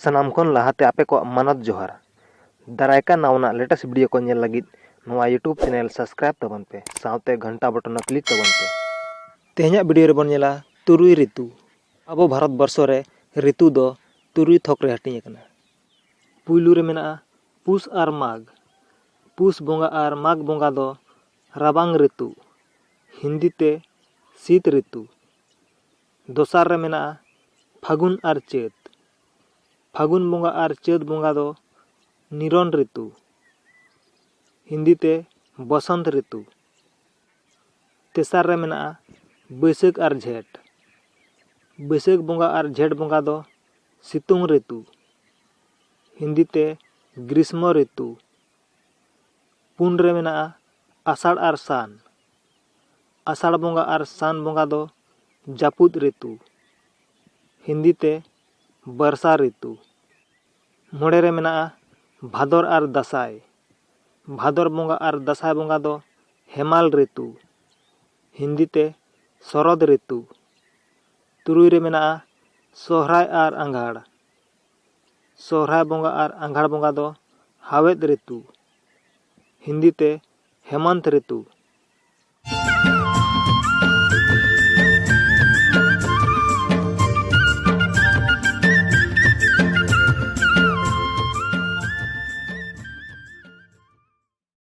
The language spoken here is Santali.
ᱥᱟᱱᱟᱢ ᱠᱷᱚᱱ ᱞᱟᱦᱟᱛᱮ ᱟᱯᱮ ᱠᱚᱣᱟᱜ ᱢᱟᱱᱚᱛ ᱡᱚᱦᱟᱨ ᱫᱟᱨᱟᱭ ᱠᱟᱱ ᱱᱟᱣᱟᱱᱟᱜ ᱞᱮᱴᱮᱥᱴ ᱵᱷᱤᱰᱤᱭᱳ ᱠᱚ ᱧᱮᱞ ᱞᱟᱹᱜᱤᱫ ᱱᱚᱣᱟ ᱤᱭᱩᱴᱩᱵᱽ ᱪᱮᱱᱮᱞ ᱥᱟᱵᱥᱠᱨᱟᱭᱤᱵᱽ ᱛᱟᱵᱚᱱ ᱯᱮ ᱥᱟᱶᱛᱮ ᱜᱷᱚᱱᱴᱟ ᱵᱚᱴᱚᱱ ᱦᱚᱸ ᱠᱞᱤᱠ ᱛᱟᱵᱚᱱ ᱯᱮ ᱛᱮᱦᱮᱧᱟᱜ ᱵᱷᱤᱰᱤᱭᱳ ᱨᱮᱵᱚᱱ ᱧᱮᱞᱟ ᱛᱩᱨᱩᱭ ᱨᱤᱛᱩ ᱟᱵᱚ ᱵᱷᱟᱨᱚᱛ ᱵᱚᱨᱥᱚ ᱨᱮ ᱨᱤᱛᱩ ᱫᱚ ᱛᱩᱨᱩᱭ ᱛᱷᱚᱠ ᱨᱮ ᱦᱟᱹᱴᱤᱧ ᱟᱠᱟᱱᱟ ᱯᱩᱭᱞᱩ ᱨᱮ ᱢᱮᱱᱟᱜᱼᱟ ᱯᱩᱥ ᱟᱨ ᱢᱟᱜᱽ ᱯᱩᱥ ᱵᱚᱸᱜᱟ ᱟᱨ ᱢᱟᱜᱽ ᱵᱚᱸᱜᱟ ᱫᱚ ᱨᱟᱵᱟᱝ ᱨᱤᱛᱩ ᱦᱤᱱᱫᱤ ᱛᱮ ᱥᱤᱛ ᱨᱤᱛᱩ ᱫᱚᱥᱟᱨ ᱨᱮ ᱢᱮᱱᱟᱜᱼᱟ ᱯᱷᱟᱹᱜᱩᱱ ᱟᱨ ᱪᱟᱹᱛ ᱯᱷᱟᱹᱜᱩᱱ ᱵᱚᱸᱜᱟ ᱟᱨ ᱪᱟᱹᱛ ᱵᱚᱸᱜᱟ ᱫᱚ ᱱᱤᱨᱚᱱ ᱨᱤᱛᱩ ᱦᱤᱱᱫᱤ ᱛᱮ ᱵᱚᱥᱚᱱᱛ ᱨᱤᱛᱩ ᱛᱮᱥᱟᱨ ᱨᱮ ᱢᱮᱱᱟᱜᱼᱟ ᱵᱟᱹᱭᱥᱟᱹᱠᱷ ᱟᱨ ᱡᱷᱮᱸᱴ ᱵᱟᱹᱭᱥᱟᱹᱠᱷ ᱵᱚᱸᱜᱟ ᱟᱨ ᱡᱷᱮᱸᱴ ᱵᱚᱸᱜᱟ ᱫᱚ ᱥᱤᱛᱩᱝ ᱨᱤᱛᱩ ᱦᱤᱱᱫᱤ ᱛᱮ ᱜᱨᱤᱥᱢᱚ ᱨᱤᱛᱩ ᱯᱩᱱ ᱨᱮ ᱢᱮᱱᱟᱜᱼᱟ ᱟᱥᱟᱲ ᱟᱨ ᱥᱟᱱ ᱟᱥᱟᱲ ᱵᱚᱸᱜᱟ ᱟᱨ ᱥᱟᱱ ᱵᱚᱸᱜᱟ ᱫᱚ ᱡᱟᱹᱯᱩᱫ ᱨᱤᱛᱩ ᱦᱤᱱᱫᱤ ᱛᱮ ᱵᱟᱨᱥᱟ ᱨᱤᱛᱩ ᱢᱚᱬᱮ ᱨᱮ ᱢᱮᱱᱟᱜᱼᱟ ᱵᱷᱟᱫᱚᱨ ᱟᱨ ᱫᱟᱸᱥᱟᱭ ᱵᱷᱟᱫᱚᱨ ᱵᱚᱸᱜᱟ ᱟᱨ ᱫᱟᱸᱥᱟᱭ ᱵᱚᱸᱜᱟ ᱫᱚ ᱦᱮᱢᱟᱞ ᱨᱤᱛᱩ ᱦᱤᱱᱫᱤ ᱛᱮ ᱥᱚᱨᱚᱫ ᱨᱤᱛᱩ ᱛᱩᱨᱩᱭ ᱨᱮ ᱢᱮᱱᱟᱜᱼᱟ ᱥᱚᱦᱨᱟᱭ ᱟᱨ ᱟᱸᱜᱷᱟᱲ ᱥᱚᱦᱨᱟᱭ ᱵᱚᱸᱜᱟ ᱟᱨ ᱟᱸᱜᱷᱟᱲ ᱵᱚᱸᱜᱟ ᱫᱚ ᱦᱟᱣᱮᱫ ᱨᱤᱛᱩ ᱦᱤᱱᱫᱤ ᱛᱮ ᱦᱮᱢᱚᱱᱛ ᱨᱤᱛᱩ